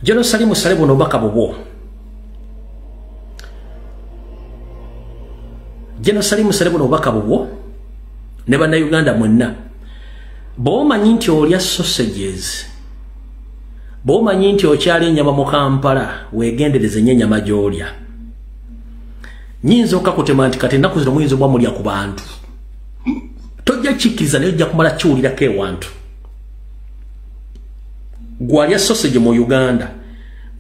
Jeno sali musale buno baka bubo. Jeno sali musale buno baka bubo. Neba na Uganda mwenna. Boma nyinti olya sausages. Boma nyinti ochali nyama mu Kampala wegendereze nye nyama jolya. Nyinzo kakutema nti kati naku zino mwinzo bwa mulya ku bantu. Tojja chikiza ne ojja kumala chiulira ke wantu. gwalya sausage mu uganda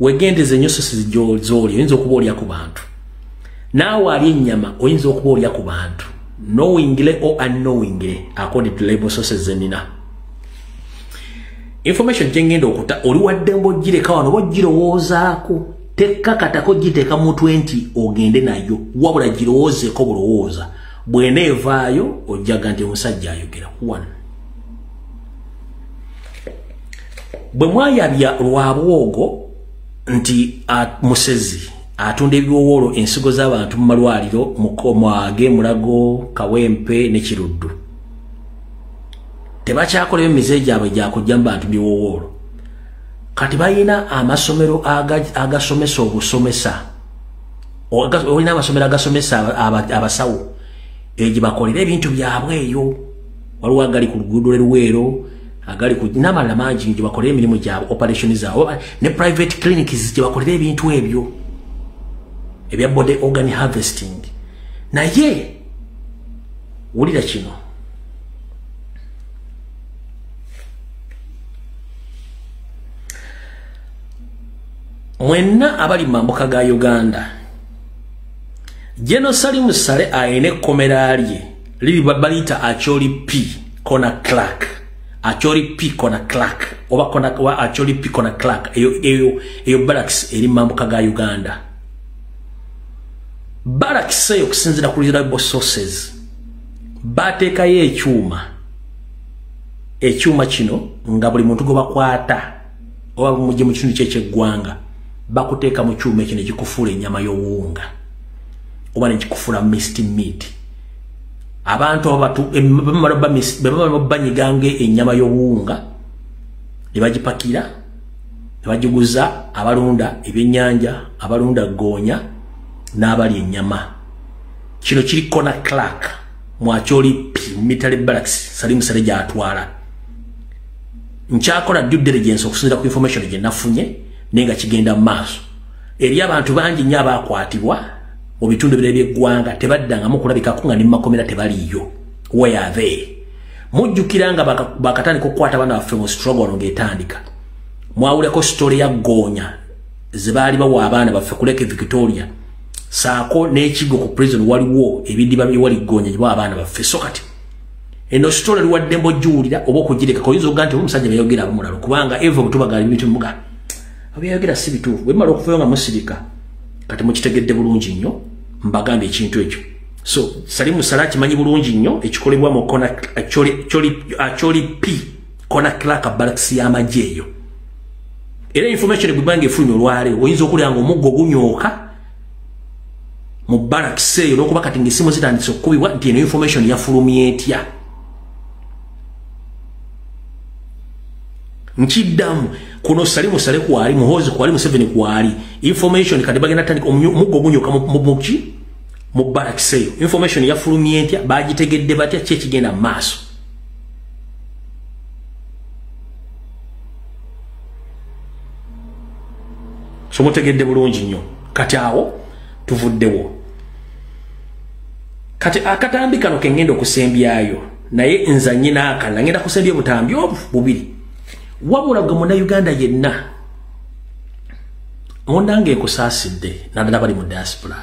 wegendeza enyo sausage gyoli oyinza okuba olya ku bantu naawe ali ennyama oyinza okuba olya ku bantu knowingly or unknowingly according to label sources zenina information jengenda okuta oli waddembo gireka wano oba girowoozaako tekkakatako giteeka mu 20 ogende nayo wabula girowoozeeko bulowooza bwena evaayo ojjaga nti omusajja ayogera one bwe mwayabya lwa bwogo nti musezi atunda ebiwowoolo ensigo z'abantu mu malwaliro mukomwage mulago kawempe ne kiruddu tebakyakoleyo mize gyabwe gyakujja mu bantu biwowoolo kati balina amasomero agasomesa obusomesa olina amasomero agasomesa abasawo egye bakolera ebintu byabwe eyo waliwo agali ku luguudo lweruweero agali ku nabalala mangi nyo gyebakolera emirimu gyabwe operation zaabwe ne private clinics gyebakolera ebintu ebyo ebya body organ harvesting naye wulira kino mwenna abali mu mambuka ga uganda jeno salimu sale alina ekkomera lye lili baliyita acholi p kona clark acholi p kona clark oba kona wa acholi p kona clark eyo eyo eyo barracks eri mambuka ga uganda barracks eyo kusinzira ku reliable sources bateekayo ekyuma ekyuma kino nga buli muntu gwe bakwata oba bumujje mu kitundu kyekyeggwanga bakuteeka mu kyuma ekyo ne kikufuula ennyama y'obuwunga oba ne kikufuula mist meat abantu abatu banyiganga enyama y'obuwunga ne bagipakira ne bagiguza abalunda ebyennyanja abalunda goonya n'abali enyama kino kiri kona clark mwakyoli mitale baraks salimu sale gyatwala nkyakola due diligence okusinzira ku information gye nafunye naye nga kigenda mu maaso eri abantu bangi nnyo abaakwatibwa mu bitundu bire by'eggwanga tebaddangamu kulabikako nga ne mu makomera tebaliiyo weyave mujjukira nga bakatandika okukwata abaana baffe mu strogolo ng'etandika mwawuleko sitole ya ggoonya ze baali bawa abaana baffe kuleka victoria saako n'ekigo ku prison waliwo ebidiba byewali ggoonya gyebawa abaana baffe so kati eno sitole liwadde mbojiwulira oba okugireka koyinza okuga nti omusajja beyogera abamulalo kubanga eva obutubagali bitumugana abyayogera si bituufu bwe mumala okuvayo nga musirika kati mukitegedde bulungi nnyo mbagambye ekintu ekyo so sali musala akimanyi bulungi nnyo ekikolebwa mu kona acoli p kona clarka balakisi y'amagye eyo era information egwibanga efunye olwale oyinza okulya nga omuggo gunyooka mu balakisi eyo n'okuba kati ngaesimu zitandise okukubibwa nti eno information yafulumya etya nkiddamu kuno sali musale kwali muhozi kwali museveni kwali information kati bagenda tandika omuggo gunyoka mubuki mu barracks eyo information yafulumye ntya bagitegedde batya ki ekigenda mu maaso so mutegedde bulungi nnyo kati awo tuvuddewo kati akatambi kano kengenda okusembyayo naye nza nyina akana ngenda kusembye butambi obu bubiri wabula gwe muna uganda yenna munanga ekusaasidde nadala bali mu diaspora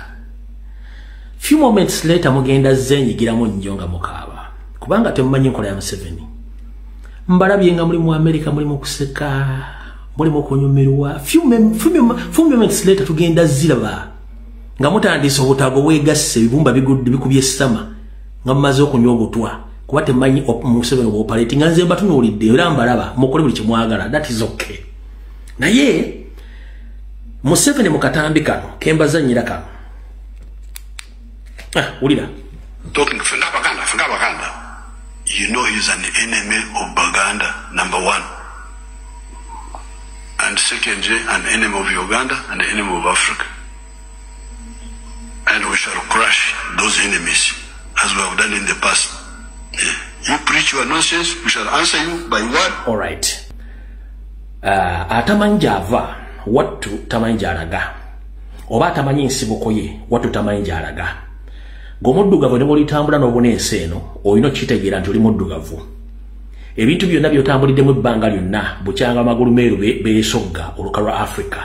few moments later mugenda zenyigiramu nnyo nga mukaaba kubanga temumanyi enkola ya museveni mbalabye nga muli mu amerika muli mukuseka muli mukunyumirwa few moments later tugenda ziraba nga mutandise obutago bwegasse ebibumba bigudde bikubye sama nga mumaze okunywa obutwa kuba temanyi museveni obopaleti nga nze mbatunuulidde era mbalaba mukole buli kyemwagala that is okay naye museveni mu katambi kano kembazanyira kano ah, wulira talking to Fenda Baganda, Fenda Baganda, you know he's an enemy of Baganda, number one. And secondly, an enemy of Uganda and an enemy of Africa. And we shall crush those enemies as we have done in the past. Eh, you preach your nonsense, we shall answer you by word. All right. Uh, atamanyi gy'ava wattu tamanyi gy'alaga oba atamanyi nsibuko ye wattu tamanyi gy'alaga gomuddugavu ne bwolitambula n'obuna ensi eno olina okukitegeera nti oli muddugavu ebintu byonna byotambuliddemu ebbanga lyonna bukyanga amagulu meeru beesogga oluka lwa africa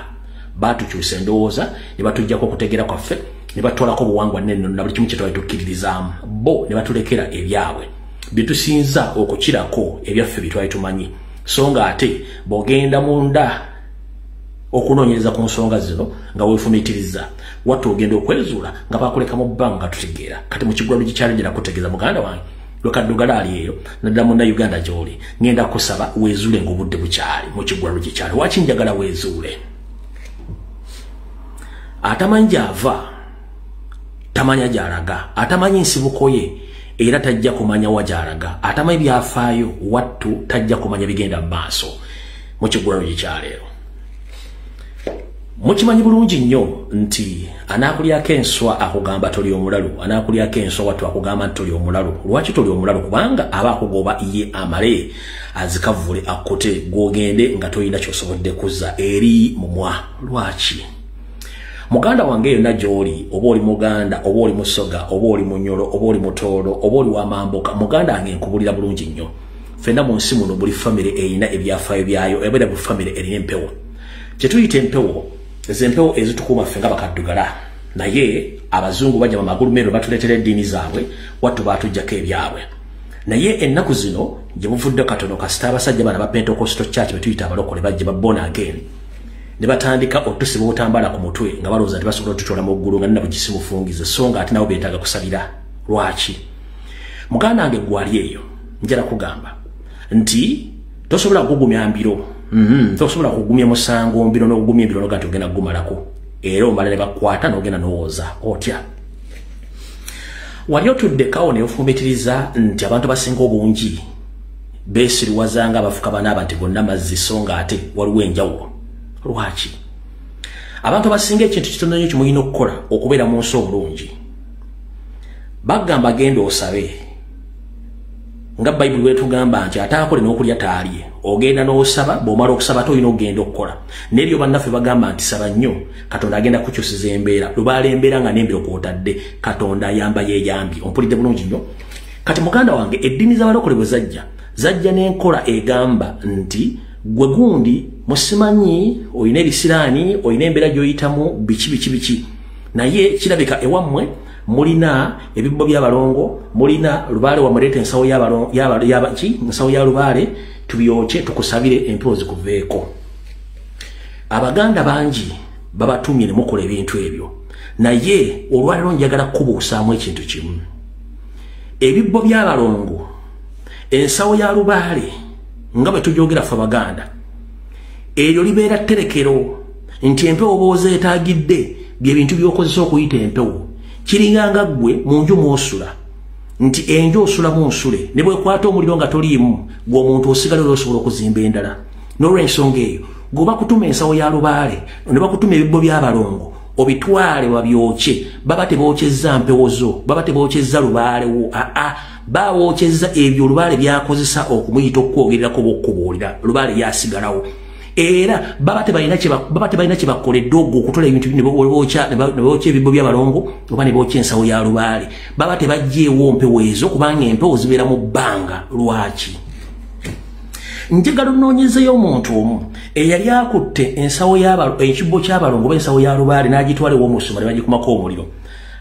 baatukyusa endowooza ne batuggyako okutegeera kwaffe ne batutwalako obuwangwa nennono na buli kimu kye twali tukkiririzaamu bo ne batulekera ebyabwe bye tusinza okukirako ebyaffe bye twali tumanyi so nga ate bw'ogenda mu nda okunoonyereza ku nsonga zino nga weefumiitiriza watta ogenda okwezuula nga bakulekamu bbanga tutegeera kati mu kigula lugikyalidde nakutegeeza muganda wange lwekaddugala ali eyo naddala muna uganda gyoli ngenda kusaba wezuule ngaobudde bukyali mukigwalo gyekyali waki njagala wezuule atamanyi gyava tamanya gyalaga atamanyi nsibuko ye era tajja kumanya wa gyalaga atamanyi byafaayo wattu tajja kumanya bigenda mu maaso mukigwalo gyekyaleero mukimanyi bulungi nnyo nti anaakulyako enswa akugamba toli omulalu anaakulyako enswa wattu akugamba nti toli omulalu lwaki toli omulalu kubanga aba akugoba ye amale azikavvule akkute gwogende nga tolina kyosobodde kuzza eri mumwa lwaki muganda wange yonna gy'oli oba oli muganda oba oli musoga oba oli munyolo oba oli mutoolo oba oli wamambuka muganda wange nkubulira bulungi nnyo fena mu nsi muno buli famire erina ebyafaayo byayo ebera bu famire erina empewo kyetuyita empewo ezo empewo ezitukuuma ffe nga bakaddugala naye abazungu bajja mumagulu meero batuleetera eddiini zaabwe wattu baatujjako ebyabwe naye ennaku zino gye buvudde katono kasita abasajja bana ba pentekosto church betuyita abalokole bajja babona again ne batandika otusiba obutambala ku mutwe nga balowooza nti basobola otutwala mu ggulu nga nina bugisi mufungize so nga ate nabo beetaaga kusabira lwaki muganda wange gwali eyo njala kugamba nti tosobola kugumya mbiro mm -hmm. tosobola kugumya musango mbiro n'okugumya embiro noga nti ogenda kugumalako era omala ne bakwata n'ogenda n'owooza otya wali otuddekawo ne ofumitiriza nti abantu basinga obungi beesiriwaza nga abafuka banaaba nti gonna mazzi so nga ate waliwo enjawulo lwaki abantu abasinga ekintu kitono nyo kimulina okukola okubeera mu nsi obulungi bagamba genda osabe nga bayibuli wetugamba nti ataakole n'okulya taalye ogenda n'osaba bw'omala okusaba te olina okugenda okukola n'ebyo bannaffe bagamba nti saba nnyo katonda agenda kukyusiza embeera lubaala embeera nga n'embiro kwotadde katonda ayamba yeeyambye ompulidde bulungi nnyo kati muganda wange eddiini z'abalokole bwe zajja zajja n'enkola egamba nti gwe gundi musimanyi olina ebisiraani olina embeera gy'oyitamu biki biki biki naye kirabika ewammwe mulina ebibbo byabalongo mulina lubaale wamuleeta ensawo yabaki nsawo ya lubaale tubyokye tukusabire empewo zikuveeko abaganda bangi babatumye ne mukola ebintu ebyo naye olwaliro njagala kukubuusaamu ekintu kimu ebibbo byabalongo ensawo ya lubaale nga bwe tujogera fe abaganda eryo libeera tterekero nti empewo boozeetagidde bye bintu by'okozesa okuyita empewo kiringanga ggwe mu nju mw'osula nti enju osulamu nsule ne bwekwata omuliro nga toliimu gwe omuntu osigala era osobola okuzimba endala n'olwensonga eyo gwe bakutuma ensawo ya lubaale ne bakutuma ebibbo by'abalongo obitwale babyokye baba tebookyezza mpewo zo baba tebookyezza lubaalewo aa bawookyezza ebyo olubaale byakozesa okumuyita okukwogererako bokkubuulira lubaale yasigalawo era baba tebalina kyebakoledde ogwo okutola ebintu nebokya ebibbo byabalongo oba nebokya ensawo ya lubaale baba tebajjeewo mpewo ezo kubanga empewo zibeera mu bbanga lwaki njagala onoonyezeyo omuntu omu eyali akutte ensawo ekibbo kyabalongo oba ensawo ya lubaale n'agitwala ewomusuma ne bagikumako omuliro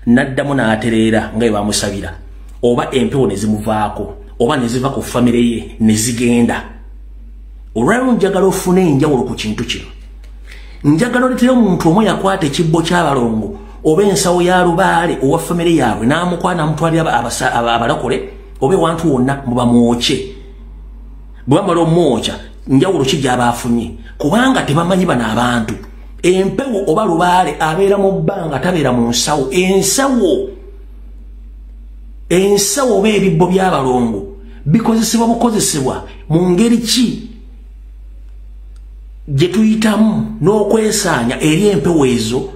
n'addamu n'atereera nga ebamusabira oba empewo ne zimuvaako oba ne ziva ku famire ye ne zigenda olwaliwo njagala ofuna enjawulo ku kintu kino njagala oletera omuntu omu yakwata ekibbo kyabalongo oba ensawo ya lubaale owa famire yaabwe n'amukwana amutwalira abalokole oba ewantu wonna mubamwokye bwe bamala omwokya njawulo ki gyaba afunye kubanga tebamanyi bano abantu empewo oba lubaale abeera mu bbanga tabeera mu nsawo ensawo ensawo oba ebibbo by'abalongo bikozesebwa bukozesebwa mu ngeri ki gye tuyitamu n'okwesaanya eri empewo ezo